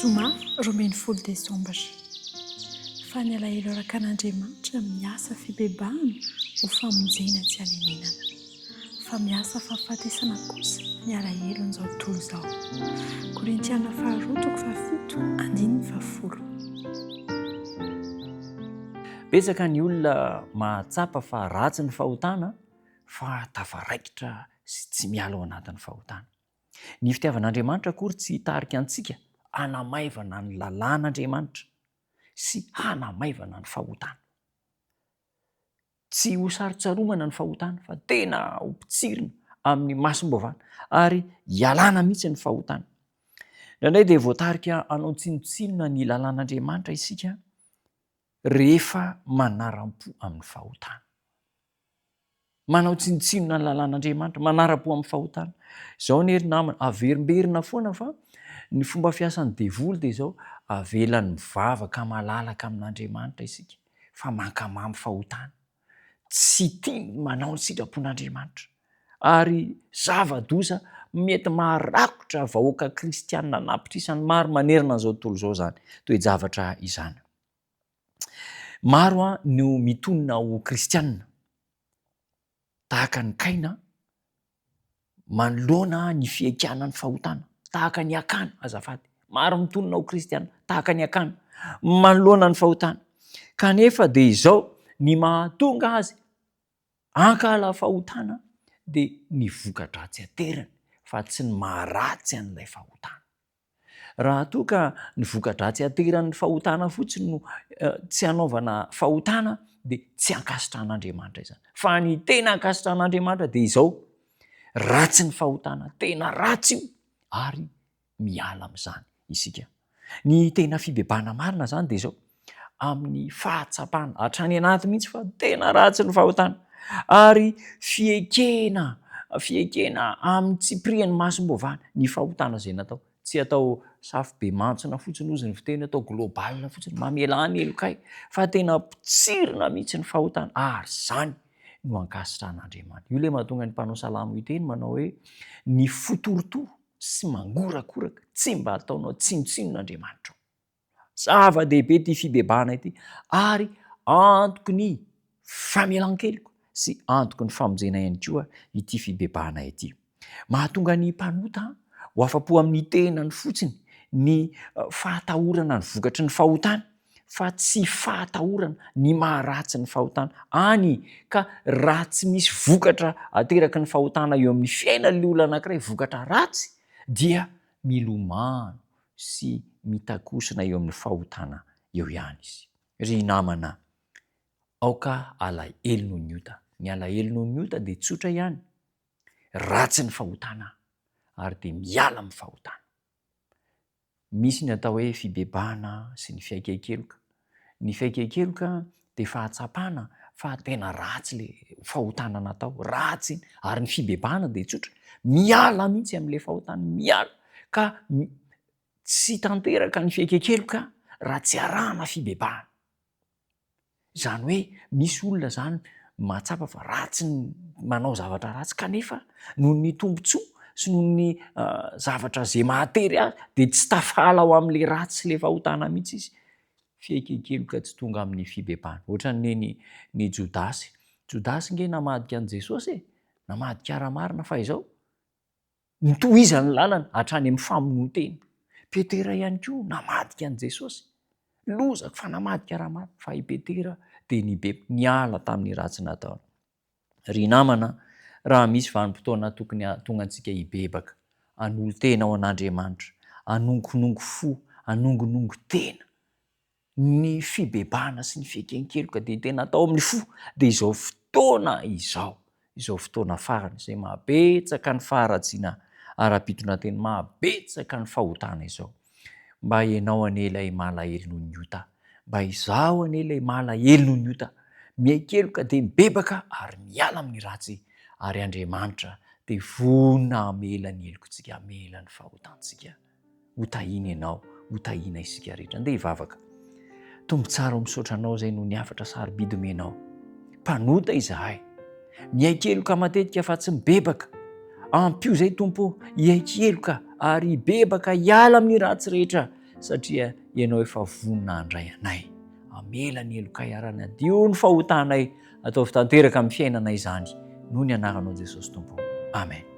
Zoma roa ambin'ny folo desambra. Fa ny alahelo arakan'Andriamanitra miasa fibebahana ho famonjena tsy hanenenana. Fa miasa fahafatesana kosa ny alahelon'izao tontolo izao. Korintiana faharoa toko fahafito andininy fahafolo. Betsaka ny olona mahatsapa fa ratsy ny fahotana fa tafaraikitra sy tsy miala ao anatin'ny fahotana. Ny fitiavan'Andriamanitra akory tsy hitarika antsika hanamaivana ny lalàn'Andriamanitra sy hanamaivana ny fahotana. Tsy hosarontsaromana ny fahotana fa tena hopotsirina amin'ny masom-bavana ary hialana mihitsy ny fahotana. Indraindray dia voatarika hanao tsinontsinona ny lalàn'Andriamanitra isika rehefa manaram-po amin'ny fahotana. Manao tsinontsinona ny lalàn'Andriamanitra, manara-po amin'ny fahotana. Izao anie ry namana, averimberina foana fa ny fomba fiasan'ny devoly dia izao, avelany mivavaka malalaka amin'Andriamanitra isika fa mankamamy fahotana. Tsy tiany manao ny sitrapon'Andriamanitra. Ary zava-doza mety maharakotra vahoaka kristianina an'apitrisany maro manerana an'izao tontolo izao izany toe-javatra izany. Maro no mitonona ho kristiana, tahaka an'i Kaina, manoloana ny fiekana ny fahotana, tahaka an'i Akana, azafady, maro mitonona ho kristiana, tahaka an'i Akana, manoloana ny fahotana, kanefa dia izao, ny mahatonga azy hankahala fahotana dia ny voka-dratsy aterany fa tsy ny maha-ratsy an'ilay fahotana. Raha toa ka ny voka-dratsy ateran'ny fahotana fotsiny no tsy hanaovana fahotana dia tsy ankasitrahan'Andriamanitra izany. Fa ny tena ankasitrahan'Andriamanitra dia izao, ratsy ny fahotana, tena ratsy io ary miala amin'izany isika. Ny tena fibebahana marina izany dia izao, amin'ny fahatsapana hatrany anaty mihitsy fa tena ratsy ny fahotana ary fiekena fiekena amin'ny tsipirian'ny masom-boavahana ny fahotana izay natao tsy atao safo be mantsina fotsiny ozy ny fiteny atao global fotsiny mamela any elokay fa tena potsirina mihitsy ny fahotana ary izany no ankasitran'andriamanitra io le mahatonga ny mpanao salamo hiteny manao hoe ny fotorotoro sy mangorakoraka tsy mba ataonao tsinontsinon'andriamanitra Zava-dehibe ity fibebahana ity ary antoky ny famelan-keloka sy antoky ny famonjena ihany koa ity fibebahana ity. Mahatonga ny mpanota ho afa-po amin'ny tenany fotsiny ny fahatahorana ny vokatry ny fahotany fa tsy fahatahorana ny maharatsy ny fahotana any ka raha tsy misy vokatra ateraky ny fahotana eo amin'ny fiainan'ny olona anankiray vokatra ratsy dia milomano sy mitakosona eo amin'ny fahotana eo ihany izy. Ry namana, aoka alahelo noho ny ota. Ny alahelo noho ny ota dia tsotra ihany, ratsy ny fahotana ary dia miala amin'ny fahotana. Misy ny atao hoe fibebahana sy ny fiaiken-keloka. Ny fiaiken-keloka dia fahatsapana fa tena ratsy ilay fahotana natao, ratsy iny. Ary ny fibebahana dia tsotra, miala mihitsy amin'ilay fahotana, miala. Ka tsy tanteraka ny fiaiken-keloka raha tsy arahana fibebahana. Izany hoe misy olona izany mahatsapa fa ratsy ny manao zavatra ratsy kanefa noho ny tombontsoa sy noho ny zavatra izay mahatery azy dia tsy tafahala ao amin'ilay ratsy sy ilay fahotana mihitsy izy. Fihekinkeloka tsy tonga amin'ny fibebahana. Ohatran'ny ny ny Jodasy. Jodasy nge namadika an'i Jesosy e! Namadika ara-marina fa izao, notohizany ny lalana hatrany amin'ny famonoan-tena. Petera ihany koa namadika an'i Jesosy. Loza fa namadika ara-marina. Fa i Petera dia nibe, niala tamin'ny ratsy nataony. Ry namana, raha misy vanim-potoana tokony hahatonga antsika hibebaka, hanolo-tena ho an'Andriamanitra, hanongonongo fo, hanongonongo tena, ny fibebahana sy ny fieken-keloka dia tena atao amin'ny fo, dia izao fotoana izao, izao fotoana farany izay maha betsaka ny faharatsiana ara-pitondrantena, maha betsaka ny fahotana izao. Mba ianao anie ilay malahelo noho ny ota Mba izaho anie ilay malahelo noho ny ota Mihaikeloka dia mibebaka ary miala amin'ny ratsy Ary Andriamanitra dia vonona hamela ny helokontsika Hamela ny fahotantsika Ho tahiana ianao, ho tahiana isika rehetra Andeha hivavaka. Tompo tsara o misaotra anao zay noho ny hafatra sarobidy omenao. Mpanota izahay. Miaiky heloka matetika fa tsy mibebaka. Ampio zay Tompo o hiaiky heloka ary hibebaka hiala amin'ny ratsy rehetra satria Ianao efa vonona handray anay. Amela ny helokay ara-nadio ny fahotanay. Ataovy tanteraka amin'ny fiainanay izany noho ny anaranao Jesosy Tompo. Amen.